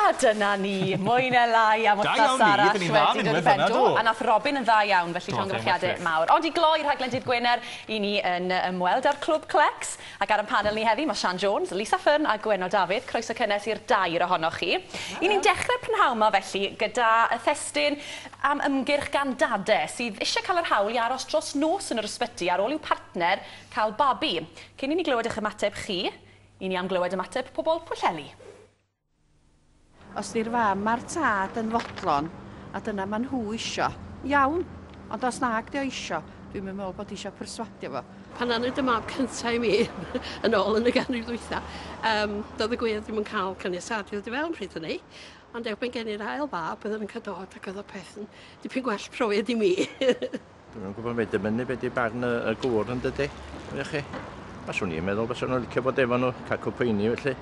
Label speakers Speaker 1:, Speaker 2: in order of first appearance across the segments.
Speaker 1: A dyna ni, mwy ne lai am wythnos arall wedi dod i ben, do, a nath Robin yn dda iawn, felly llongyfarchiade mawr. Ond i gloi rhaglen Dydd Gwener, i ni yn ymweld a'r Clwb Clecs, ac ar 'yn panel ni heddi ma' Sian Jones, Lisa Fearne a Gwenno Dafydd, croeso cynnes i'r dair ohonoch chi. I ni'n dechre prynhawn 'ma felly gyda thestun am ymgyrch gan dade sydd isie cael yr hawl i aros dros nos yn yr ysbyty ar ôl i'w partner cael babi. Cyn i ni glywed 'ych ymateb chi, i ni am glywed ymateb pobol Pwllheli.
Speaker 2: Os di'r fam a'r tad yn fodlon, a dyna ma' nhw isio, iawn, ond os nag 'di o isio, dwi'm yn me'wl bod isio perswadio fo. Pan nawn ni dy mab
Speaker 3: cynta i mi, yn ôl yn y ganrif ddwytha, yym, do'dd y gwŷr ddim yn ca'l caniatâd i ddod i fewn pryd hynny, ond erbyn geni'r ail fab, oedden nw'n ca'l dod, ac o'dd y peth yn dipyn gwell profiad i mi. Dwi'n yn
Speaker 4: gwybod beth dymunnu beth di barn y, y gŵr yn dydy. Ie chi? Mae swn i'n meddwl bys nhw'n licio bod efo nhw, cael cwpweini felly.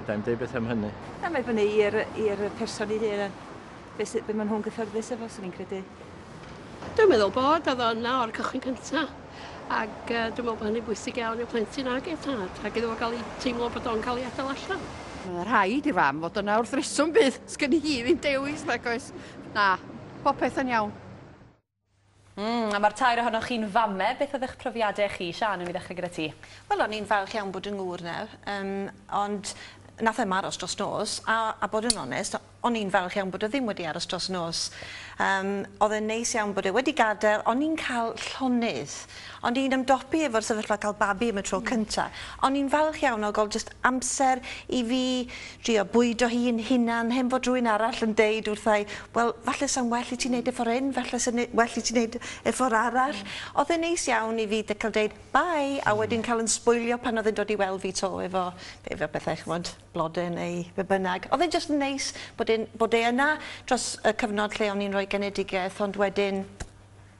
Speaker 4: Dai'n dweud beth am hynny. Na, mae fyny
Speaker 5: i'r person i hyn. Beth sy, be maen nhw'n gyffyrddus efo, swn i'n credu. Dwi'n
Speaker 3: meddwl bod, oedd o'n na o'r cychwyn cyntaf. Ac uh, dwi'n meddwl bod hynny'n bwysig iawn i'r plentyn ag ei tad, ac iddo fo gael ei teimlo bod o'n cael ei adael allan. Mae'n rhaid i
Speaker 2: fam fod yna wrth reswm bydd. Sgyn hi ddim dewis, nag oes? Na, popeth yn iawn.
Speaker 1: Mm, a mae'r tair ohonoch chi'n fame, beth oedd eich profiadau chi? Siân, wni ddechrau gyda ti. Wel, o'n i'n falch iawn
Speaker 6: bod 'y ngŵr nawr, yym, ond nath e 'm aros dros nos, a, a bod yn onest, o'n i'n falch iawn bod o ddim wedi aros dros nos. Yym, odd e'n neis iawn bod e wedi gadel, o'n i'n ca'l llonydd. Ond i'n ymdopi efo'r sefyllfa cael babi am y tro cynta', o'n i'n falch iawn o ga'l jyst amser i fi drio bwydo hi yn hunan hen fod rhywun arall yn deud wrtha i, wel falle sa'n well i ti neud e ffor 'yn, falle sa'n ne- well i ti neud e ffor arall. O'dd e'n neis iawn i fi de- ca'l deud bye a wedyn ca'l 'yn sbwylio pan o'dd e'n dod i weld fi 'to efo efo pethau ch'mod blode neu be' bynnag. O'dd e'n jyst yn neis bod e'n bod e yna dros y cyfnod lle o'n i'n roi genedigeth ond wedyn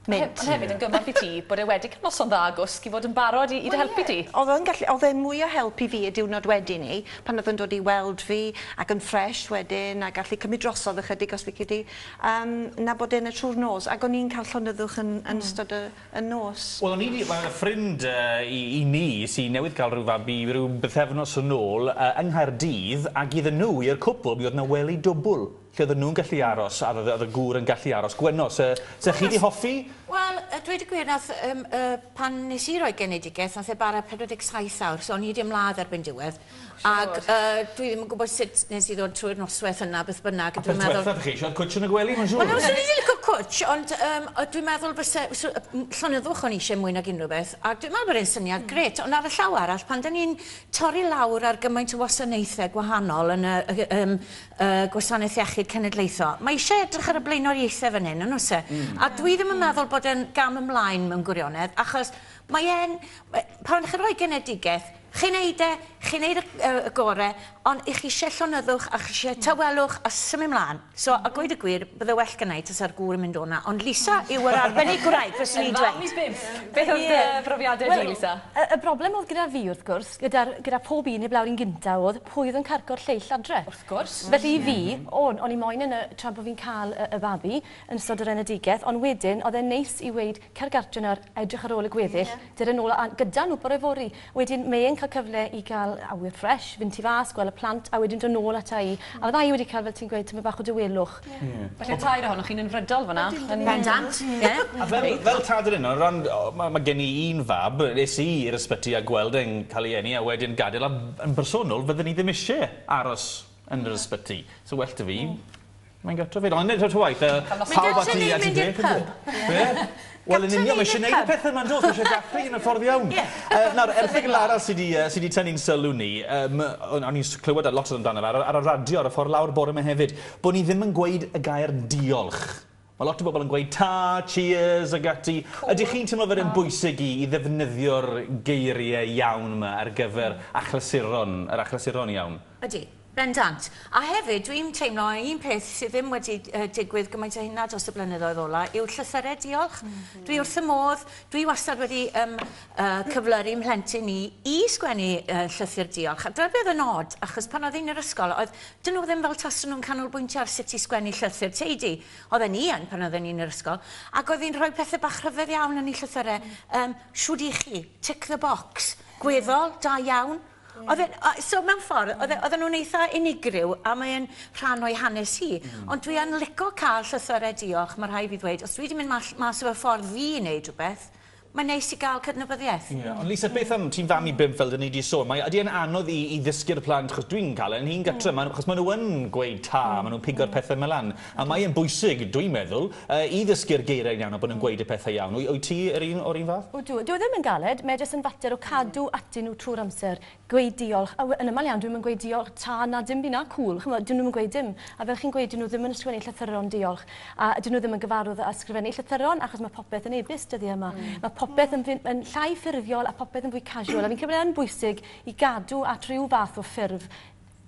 Speaker 6: Mynd. Ond hefyd yn gymorth i ti
Speaker 1: bod e wedi cael noson dda gwsg i fod yn barod i i dy helpu di. Wel ie. O'dd o'n gallu o'dd e'n mwy
Speaker 6: o help i fi y diwrnod wedyn 'ny pan o'dd yn dod i weld fi ac yn ffresh wedyn a gallu cymryd drosodd ychydig os lici di yym na bod e'n y trw'r nos ac o'n i'n ca'l llonyddwch yn yn ystod y y nos. Wel o'n i 'di ma'
Speaker 7: ffrind yy i i mi sy newydd ca'l ryw fabi ryw bythefnos yn ôl yy yng Nghaerdydd ag iddyn nhw i'r cwpwl mi o'dd 'na wely dwbwl Lle oedden nhw'n gallu aros, a oedd y gŵr yn gallu aros. Gwenno, 'se, 'se chi 'di hoffi? Wel, yy, dweud y
Speaker 8: gwir, nath, um, uh, pan nes i roi genedigaeth, nath e bara 47 awr, so o'n i wedi ymladd erbyn diwedd. Oh, Ac, uh, dwi ddim yn gwybod sut nes i ddod trwy'r noswaith yna, beth bynnag, dwi'n meddwl... Beth chi
Speaker 7: eisiau, cwtch yn y gwely, mae'n siŵr? Wel, swn i ddim licio cwtch,
Speaker 8: ond, um, dwi'n meddwl fyse, so, llonyddwch o'n eisiau mwy nag unrhyw beth, ac dwi'n meddwl bod e'n syniad mm. gret, ond ar y llaw arall, pan da ni'n torri lawr ar gymaint o wasanaethau gwahanol yn y, um, y Gwasanaeth Iechyd Cenedlaethol. Mae eisiau edrych ar y blaenoriaethau fan hyn, yn oes e? A dwi ddim yn meddwl bod e'n gam ymlaen mewn gwirionedd, achos mae e'n... pan chi'n rhoi genedigaeth, chi'n neud e, chi'n neud y y gore, ond i chi eisiau llonyddwch a chi eisiau tawelwch a symud mlaen. So, a gweud y gwir, bydde well gynna i tasa'r gŵr yn mynd o 'na, ond Lisa yw yr arbennig gwraig, fyswn i'n dweud. Yn fam i bump! Beth oedd dy
Speaker 1: brofiadau di, Lisa? Wel, y y broblem oedd gyda
Speaker 9: fi, wrth gwrs, gyda'r gyda phob un heb lawr un gynta oedd, pwy oedd yn carco'r lleill adre. Wrth gwrs. Felly i
Speaker 1: fi,
Speaker 9: o'n, o'n i moyn yn y, tra bo' fi'n ca'l y, y babi, yn ystod yr enedigeth, ond wedyn, o'dd e'n neis i weud, cer gartre nawr, a edrych ar ôl y gweddill, dere nôl a, gyda nhw bore fory. Wedyn, mae e'n ca'l cyfle i ga'l awyr ffresh, fynd tu fas, gwel' y plant, a wedyn do' nôl ata i. A fydda i wedi ca'l, fel ti'n gweud, tymed bach o dawelwch. Felly y tair
Speaker 1: ohonoch chi'n unfrydol fan'na. Yn bendant. Ie.
Speaker 8: A fel
Speaker 7: fel tad yr un o ran o ma' ma' gen i un fab es i i'r ysbyty a gweld e'n ca'l ei eni a wedyn gadel a b- yn bersonol fyddwn i ddim isie aros yn yr ysbyty. So well 'da fi mae'n gartref 'fyd. Ond eto ta waeth yy pawb a ti a ti beth ynde? Be? Wel yn union, mae eisiau gwneud y pethau yma yn does, mae eisiau dathlu yn y ffordd iawn. Nawr, erthygl arall sydd wedi tynnu'n sylw ni, o'n i'n clywed lot amdano fe ar y radio ar y ffordd lawr bore yma hefyd, bod ni ddim yn gweud y gair diolch. Mae lot o bobl yn gweud ta, cheers ac ati. Ydych chi'n teimlo fod e'n bwysig i ddefnyddio'r geiriau iawn yma ar gyfer achlysuron, yr achlysuron iawn? Ydy. Bendant.
Speaker 8: A hefyd, dwi'n teimlo, un peth sydd ddim wedi digwydd gymaint â hynna dros y blynyddoedd ola yw llythyrau diolch. Dwi wrth y modd, dwi wastad wedi um, uh, cyflyru mhlentyn ni i sgwennu uh, llythyr diolch. A dyna beth yn od, achos pan oedd un yr ysgol, oedd dyn nhw ddim fel taswn nhw'n canolbwyntio ar sut i sgwennu llythyr teidi. Oedd ni yn pan oedd un yr ysgol. Ac oedd hi'n rhoi pethau bach rhyfedd iawn yn ei llythyrau. Um, siwr i chi, tick the box, gweddol, da iawn, Oedd e'n... O, so mewn ffordd, oedd e- oedden nhw'n eitha unigryw, a mae e'n rhan o'i hanes hi. Hmm. Ond dwi yn lico cael llythyrau diolch, mae rhai fi ddweud. Os dwi 'di mynd mall- mas o fy ffordd fi i wneud rhywbeth, mae'n neis i gael cydnabyddiaeth. Ie, ond Lisa, beth am...
Speaker 7: Ti'n fam i bump, fel 'dyn ni 'di sôn. Mae... Ydy e'n anodd i i ddysgu'r plant, achos dwi'n cael e 'yn hun gytre, ma'... Achos ma' nhw yn gweud 'ta', ma' nhw'n pigo'r pethe 'ma lan. A mae e'n bwysig, dwi'n meddwl, i ddysgu'r geiriau'n iawn a bod yn gweud y pethau iawn. Wyt ti yr un o'r un fath? Ydw. Dyw e ddim yn galed,
Speaker 9: mae jyst yn fater o cadw atyn nhw trwy'r amser, gweud diolch, a yn aml iawn dwi'm yn gweud diolch, ta, na, dim byd, na, cŵl, chimod, dyn nhw'm yn gweud dim. A fel chi'n gweud, dyn nhw ddim yn ysgrifennu llythyron diolch, a dyn nhw ddim yn gyfarwydd â ysgrifennu llythyron achos mae popeth yn e-byst dyddiau yma. Mae popeth yn fyn- yn llai ffurfiol a popeth yn fwy casual, a fi'n credu bod e yn bwysig i gadw at ryw fath o ffurf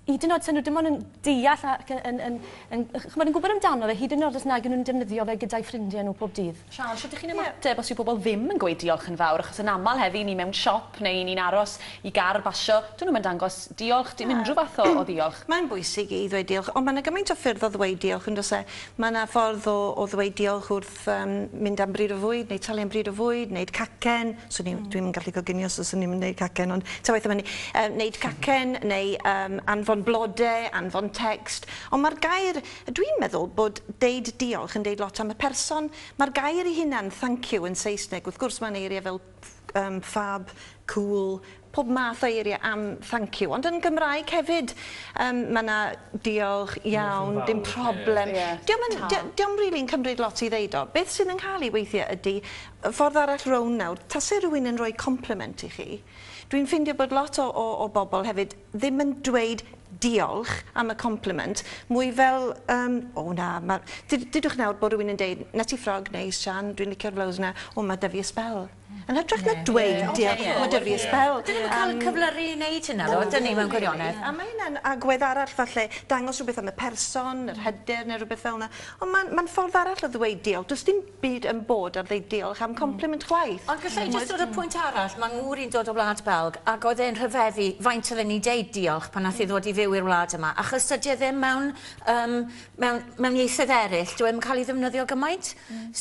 Speaker 9: hyd yn oed taw nhw dim ond yn deall ac yn, yn, yn, yn, chymod, yn gwybod amdano fe, hyd yn oed os nag nhw'n defnyddio fe gyda'i ffrindiau nhw pob dydd. Sian, sut ydych chi'n ymateb
Speaker 1: yeah. os yw pobl ddim yn gweud diolch yn fawr? Achos yn aml heddi, ni mewn siop neu i ni'n aros i gar basio, dyn nhw'n dangos diolch, dim unrhyw fath o, o ddiolch. Mae'n bwysig i ddweud
Speaker 6: diolch, ond mae yna gymaint o ffyrdd o ddweud diolch yn does e? Mae yna ffordd o, o ddweud diolch wrth yym mynd am bryd o fwyd neu talu am bryd o fwyd neud cacen swn i... Hmm. ...dwi'm yn gallu coginio so swn i'm yn neud cacen ond ta waeth am ynny yym neud cacen neu yym anfon blode anfon tecst on' ma'r gair dwi'n meddwl bod deud diolch yn deud lot am y person ma'r gair 'i hunan thank you yn Saesneg wrth gwrs ma'n eirie fel Ffwc, ffab, cŵl, pob math o eiriau am thank you. Ond yn Gymraeg hefyd yym mae 'na diolch, iawn, dim problem. Dio'm yn... dio'm rili'n cymryd lot i ddeud o. Beth sydd yn cael ei weithiau ydi, y ffordd arall rownd nawr, tase rhywun yn rhoi compliment i chi, dwi'n ffeindio bod lot o o o bobl hefyd, ddim yn dweud diolch am y compliment, mwy fel yym o na, ma- ded- dedwch nawr bod rhywun yn deud, 'na ti ffrog neis Siân, dwi'n licio'r flaws yna, o ma' 'da fi y sbel. Yn hytrach na dweud diolch, ma' 'da fi y sbel. Dyn ni'm yn cael y cyflyru
Speaker 8: i neud hynna ddo, ydyn ni, mewn gwirionedd? A ma' hynna'n agwedd
Speaker 6: arall falle, dangos rhywbeth am y person, yr hyder ne' rhywbeth felna. Ond ma'n ma'n ffordd arall o ddweud diolch, does dim byd yn bod am ddeud diolch am compliment chwaith. Ond gallai jyst dod â pwynt
Speaker 8: arall, mae ngŵr i'n dod o wlad Belg ac oedd e'n rhyfeddu faint oedden ni'n deud diolch pan nath hi ddod i fyw i'r wlad yma achos dydi e ddim mewn yym mewn mewn ieithoedd eryll dyw e ddim yn cael ei ddefnyddio gymaint.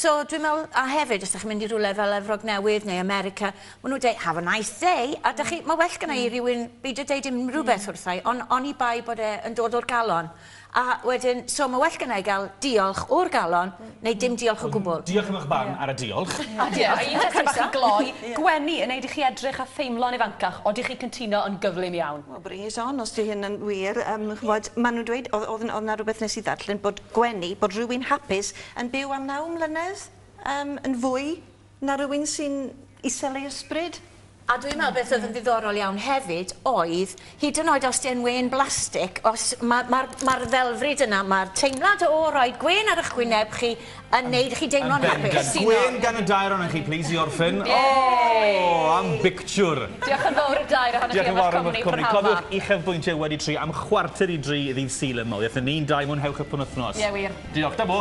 Speaker 8: So dwi'n meddwl a hefyd os dach chi'n mynd i rywle fel Efrog Newydd neu America ma' nhw'n deud have a nice day a dach chi ma' well gynna i rywun beidio deud unrhyw beth wrtha i on- oni bai bod e yn dod o'r galon. A wedyn, so ma' well gynna i gael diolch o'r galon, neu dim diolch o gwbl. Diolch am eich barn ar y
Speaker 7: diolch. A diolch.
Speaker 1: Un tecste bach i gloi, gwenu yn neud i chi edrych a theimlo'n ifancach, odych chi'n cyntuno yn gyflym iawn? Wel bring it on os 'di
Speaker 6: hyn yn wir, yym ch'mod ma' nhw'n dweud o'dd o'dd o'dd 'na rwbeth nes i ddarllen bod gwenu, bod rywun hapus yn byw am naw mlynedd yym yn fwy Na rywun sy'n isel ei ysbryd. A dwi'n meddwl beth
Speaker 8: oedd yn ddiddorol iawn hefyd oedd, hyd yn oed os 'di e'n wên blastig, os ma' ma'r ma'r ddelfryd yna, ma'r teimlad o roi gwên ar 'ych wyneb chi yn neud chi deimlo'n hapus. Yn bendant. Gwên gan y dair
Speaker 7: ohonoch chi plîs i orffen. O! Am bictiwr! Diolch yn fawr
Speaker 1: i'r dair ohonoch chi am eich cwmni prynhawn 'ma. Cofiwch uchafbwyntio wedi
Speaker 7: tri am chwarter i dri
Speaker 1: ddydd
Speaker 7: Sul yma. Wyeth yn un, dau, mwynhewch y penwythnos.
Speaker 1: Ie
Speaker 7: wir. Diolch. Dybo.